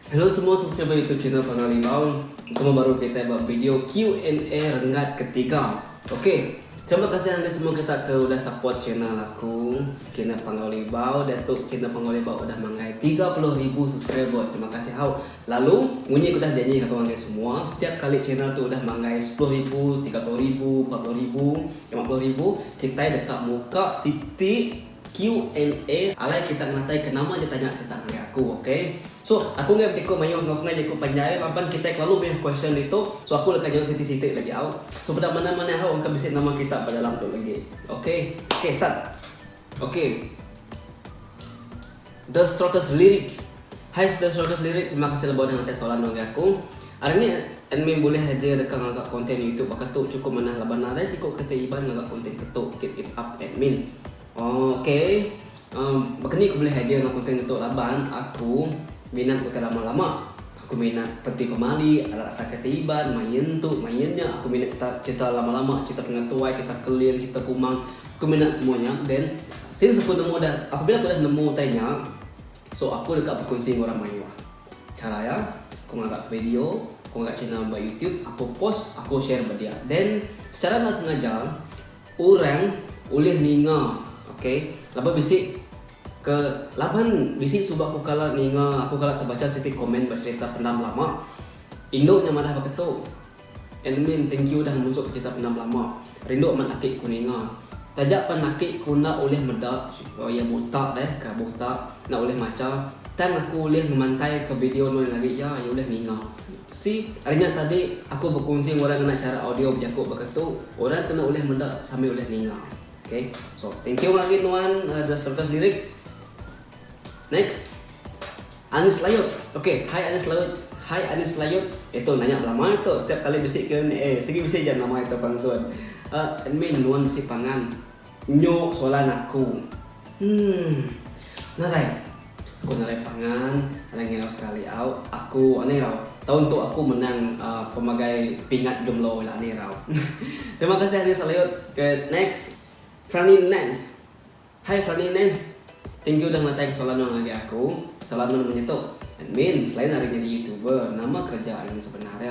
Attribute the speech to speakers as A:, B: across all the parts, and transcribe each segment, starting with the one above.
A: Hello semua subscriber YouTube channel Pengal Limbang. Kita baru kita buat video Q&A renggat ketiga. Okey. Terima kasih anda semua kita ke udah support channel aku, channel Pengal Limbang. Datuk channel Pengal Limbang udah manggai 30,000 subscriber. Terima kasih hau. Lalu, munyi ku dah janji ngaga orang nya semua, setiap kali channel tu udah manggai sepuluh ribu, tiga puluh ribu, empat puluh ribu, lima puluh ribu, kitai deka muka siti Q&A alai kita ngelantai ke nama aja tanya kita ngagai aku ok. So, aku enggai betiko mayuh enggau kengai jaku panjai laban kitai kelalu mayuh question ditu, so aku deka nyaup siti-siti lagi au. So, peda manah-manah au engka bisi nama kita ba dalam tu lagi. Ok. Ok, start. Ok The strongest lyric Hi the strongest lyric Terima kasih lebuh udah ngetek soalan tu ngagai aku Hari ni admin bulih aja reka ngaga konten youtube baka tu Cukup manah laban nadai siku kereta iban ngaga konten ke tu Keep it up admin Oh ok um, Baka ni aku bulih aja ngaga konten ke tu laban aku minat utai lama-lama Aku mena peti pemali, alat asaka ti Iban, mai nyentuk, mai nyenya, aku mena cerita cerita lama lama, cerita ke ngatuai, cerita keling, cerita kumang, aku mena semua nya, then since aku nemu dah, apabila aku dah nemu utai nya, so aku deka bekunsi enggau orang mayuh. Chara iya, aku ngaga video, aku ngaga channel ba youtube, aku post, aku share ba dia. Then, secara enda sengaja, Orang ulih ninga ok laban bisi ke laban bisi suba aku kala ninga aku kala tebacha siti komen ba cerita Penda Belama indu nya madah baka tu admin thank you udah ngemusuk ke cerita Penda Belama rindu amat aki ku ninga taja pan aki ku enda ulih meda oh iya buta deh ka buta enda ulih macha tang aku ulih ngemantai ke video nuan agi iya iya ulih ninga. Sik, ari nya tadi aku bekunsi enggau orang ngena chara audio bejaku baka tu, orang kena ulih meda sambil ulih ninga. Ok. So, thank you agi nuan The Circus Lyric. Next. Anis Layut. Ok, hai Anis Layut. Hai Anis Layut. Eh tu nanya belama eh tu, setiap kali bisi Q&A, sigi bisi ja nama kita pansun. Admin nuan bisi pangan. Nyo soalan aku. Umm. Nadai. Aku nadai pangan, nadai ngirau sekali au. Aku anu irau. Taun tu aku menang pemagai pingat jumlo ila anu irau. Terima kasih Anu Saleut. Oke next. Frani Nance. Hai Frani Nance. Thank you udah ngelatai ke soalan nuan ngagai aku. Salam nuan menyetuk. Admin, selain ari nyadi youtuber, nama kereja ari nuan sebenar nya?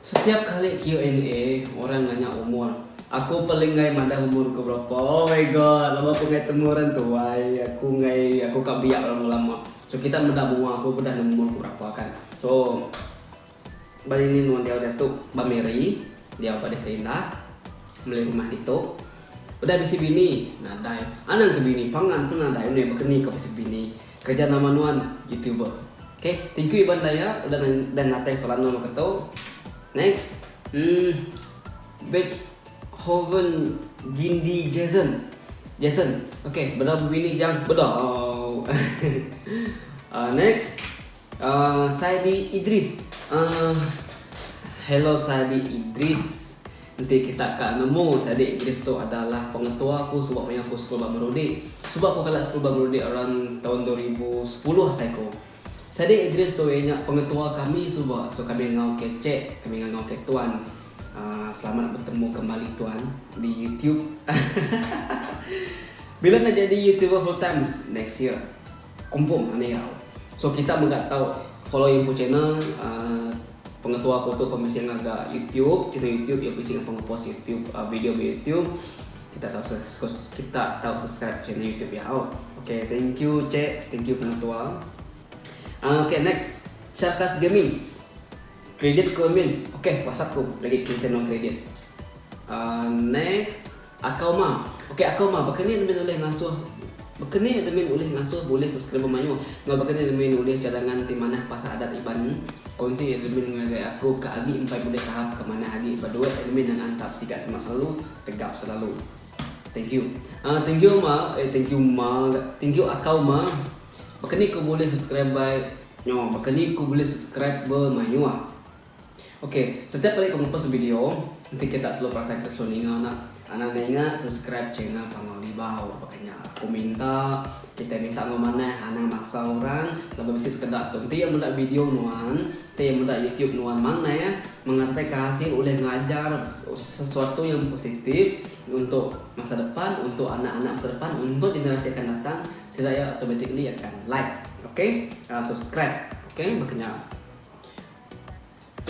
A: Setiap kali Q and A orang nanya umur aku paling enggai madah umur aku berapa oh my god laban aku enggai temu orang tuai aku enggai aku ka biak lama lama so kita meda mua aku udah nemu umur aku berapa kan so ba ini nuan diau diatu ba miri diau ba desa indah meli rumah ditu udah bisi bini nadai anang ke bini pangan pun nadai udah baka ni ka bisi bini. Kereja nama nuan youtuber. Okay thank you Iban Daya udah udah natai soalan nuan baka tu. Next. Hmm Beethoven Gindi Jason. Jason. Okay bela bebini jang beda. uh, next. Ahh Saidi Idris ahh. Hello Saidi Idris. Enti kita ka nemu Saidi Idris tu adalah pengetua aku suba maya aku sekul ba Merudi. Suba aku kala sekul ba Merudi around taun dua ribu sepuluh asai ku. Saidi Idris tu iya nya pengetua kami suba so kami enggau ke Cek, kami ngangau ke Tuan. Ahh selamat betemu kembali Tuan di YouTube. Bila enda jadi YouTuber full time next year. Confirm anak iya. So kita mega tau follow info channel pengetua aku tu pun bisi ngaga YouTube, channel YouTube iya bisi ngaga ngepost YouTube video ba YouTube. Kita tau kita tau subscribe channel YouTube iya. Okay, thank you cek, thank you pengetua. Uh, okay, next. Sharkas Gaming. Kredit ku min. Okay, WhatsApp ku lagi cancel non kredit. Uh, next. Akau ma. Ok akau ma baka ni admin ulih ngasuh Baka ni admin ulih ngasuh bulih subscriber mayuh enggau baka ni admin ulih cadangan ti manah pasal adat iban Konsi admin ngagai aku ka agi empai bulih tahap ka manah agi ba duit admin nang antap sigat semak selalu tegap selalu Thank you Ah thank you ma eh thank you ma ga thank you akau ma Baka ni ku bulih subscriber nyo baka ni ku bulih subscriber mayuh. Ok setiap kali aku ngepost video enti kita selalu perasan kita selalu ninga enda anda enda ingat subscribe channel Panggau Libau baka nya aku minta kitai minta enggau manah anang maksa orang laban bisi sekeda tu enti iya meda video nuan enti iya meda YouTube nuan manah mengataika hasil ulih ngajar sesuatu yang positif untuk masa depan untuk anak-anak masa depan untuk generasi akan datang sida iya automatically akan like ok subscribe ok baka nya.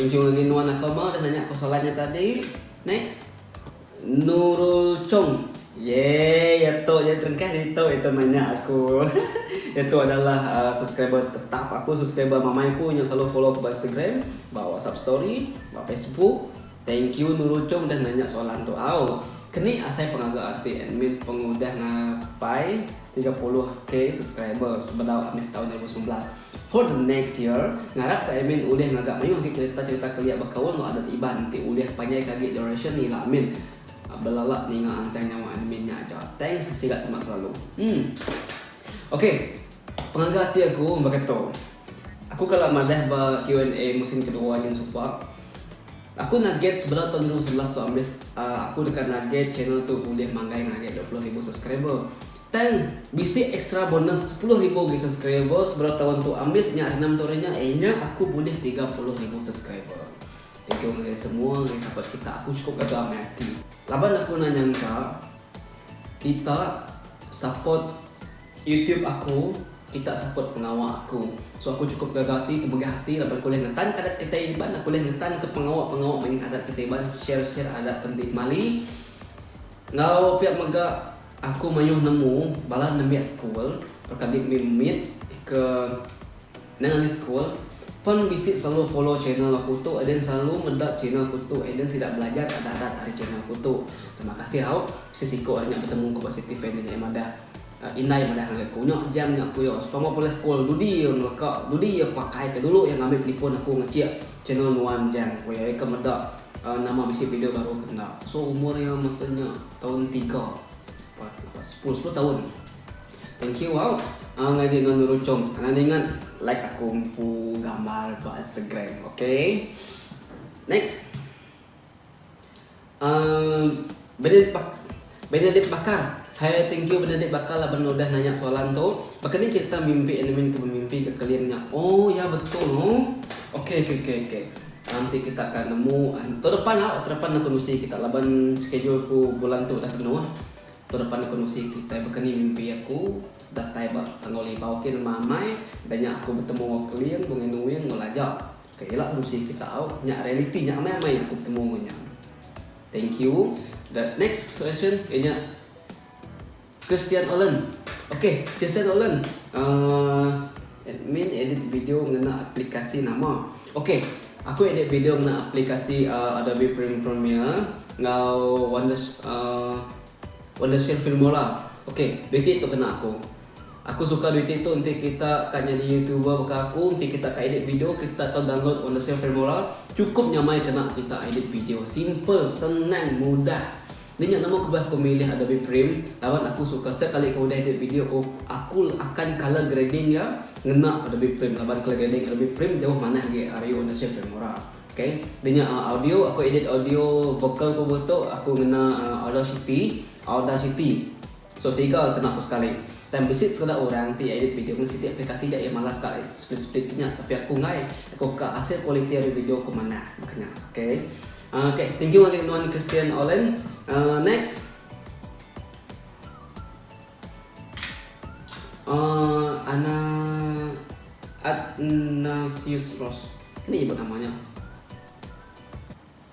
A: Ujung agi nuan aku mah udah nanya ko soalan nya tadi. Next. Nurul Chong. Yay ya tu nya terengkah ditu itu nanya aku. Iya tu adalah subscriber tetap aku subscriber mama aku nyau selalu follow aku ba Instagram, ba WhatsApp story, ba Facebook. Thank you Nurul Chong udah nanya soalan tu au. Keni asai pengaga ati admin pengudah ngapai tiga puluh K subscriber sebedau ambis taun dua ribu semilan belas. For the next year, ngarap ka admin ulih ngaga mayuh agi cerita-cerita kelia bekaul enggau adat Iban enti ulih panjai ka agi duration ni ila admin. Belala ninga anjang nyawa admin nya aja. Thanks sila semak selalu. Em. Ok. Pengaga ati aku baka tu. Aku kala madah ba Q&A musim kedua nyin supak. Aku naget sebedau taun ribu sebelas tu ambis aku deka naget channel tu ulih manggai ngaget dua puluh ribu subscriber. Tang bisi extra bonus sepuluh ribu agi subscriber sebedau taun tu ambis nya ari enam taun ari nya eh nya aku bulih tiga puluh ribu subscriber. Thank you ngagai semua ngagai support kita aku chukup gaga amai ati. Laban aku enda nyangka kita support. Youtube aku, kita support pengawa aku. So aku cukup gaga ati temegah ati laban aku ulih ngetanka adat kitai Iban, aku ulih ngetanka pengawa-pengawa main adat kitai Iban, share-share adat enti kemali. Enggau pia mega aku mayuh nemu bala nembiak sekul reka di mit-mit ke nang agi sekul pen bisi selalu follow channel aku tu and then selalu meda channel aku tu and then sida belajar adat-adat ari channel aku tu. Terima kasih au, bisi siko ari nya betemu ku ba City Fan nya nyaai madah. Indai madah ngagai aku, nya jam nya aku iya sepama pulai sekul dudi iya ngeleka, dudi iya pakai ke dulu iya ngambi telefon aku ngecik channel nuan jang ku iya, iya ke meda nama bisi video baru ke enda. So umur iya masa nya taun tiga, empat, lapan, sepuluh, sepuluh taun. Thank you au ngagai nuan Nurul Chong. Anang ningat like aku empu gambar ba Instagram. Okay. Next. Uhm Bernadette bak Bernadette bakal Hai thank you Bernadette bakal laban udah nanya soalan tu Baka ni cerita mimpi Andamin ke bemimpi ke kelin nya Oh ya betul no Ok ok ok ok Nanti kita akan nemu Tahun depan lah Tahun depan aku nusi kita laban schedule aku bulan tu udah penuh Tahun depan aku nusi kitai baka ni mimpi aku Datai ba Tangau Libau ok nemu amai Udah nya aku betemu enggau kelin Bungai Nuing enggau Laja. Ke ila musi kita au nya reality nya amai amai aku betemu enggau nya. Thank you. The next question iya nya Christian Olen. Okay, Christian Olen. Uh, admin edit video ngena aplikasi nama. Okay, aku edit video ngena aplikasi uh, Adobe Premiere enggau Wonder uh, Wondershare Filmora. Okay, duit ti tu kena aku. Aku suka dua iti tu enti kita ka nyadi youtuber baka aku enti kita ka edit video kita tak tau download Wondershare Filmora chukup nyamai kena kita edit video simple senang mudah nya nya nemu kebah aku milih Adobe Prem laban aku suka setiap kali aku udah edit video aku aku akan colour grading iya ngena Adobe Prem laban colour grading Adobe Prem jauh manah agi ari Wondershare Filmora ok dah nya audio aku edit audio vocal ku buah tu aku ngena Audacity Audacity. So tiga kena ku sekali. Tang bisi sekeda orang ti edit video ngena siti aplikasi ja iya malas ka ai speed speed ke nya tapi aku enggai aku ka hasil kualiti ari video ku manah baka nya ok uhh ok thank you ngagai nuan Christian Olen uhh next uhh ana Atnasius Ross nih nyebut nama nya.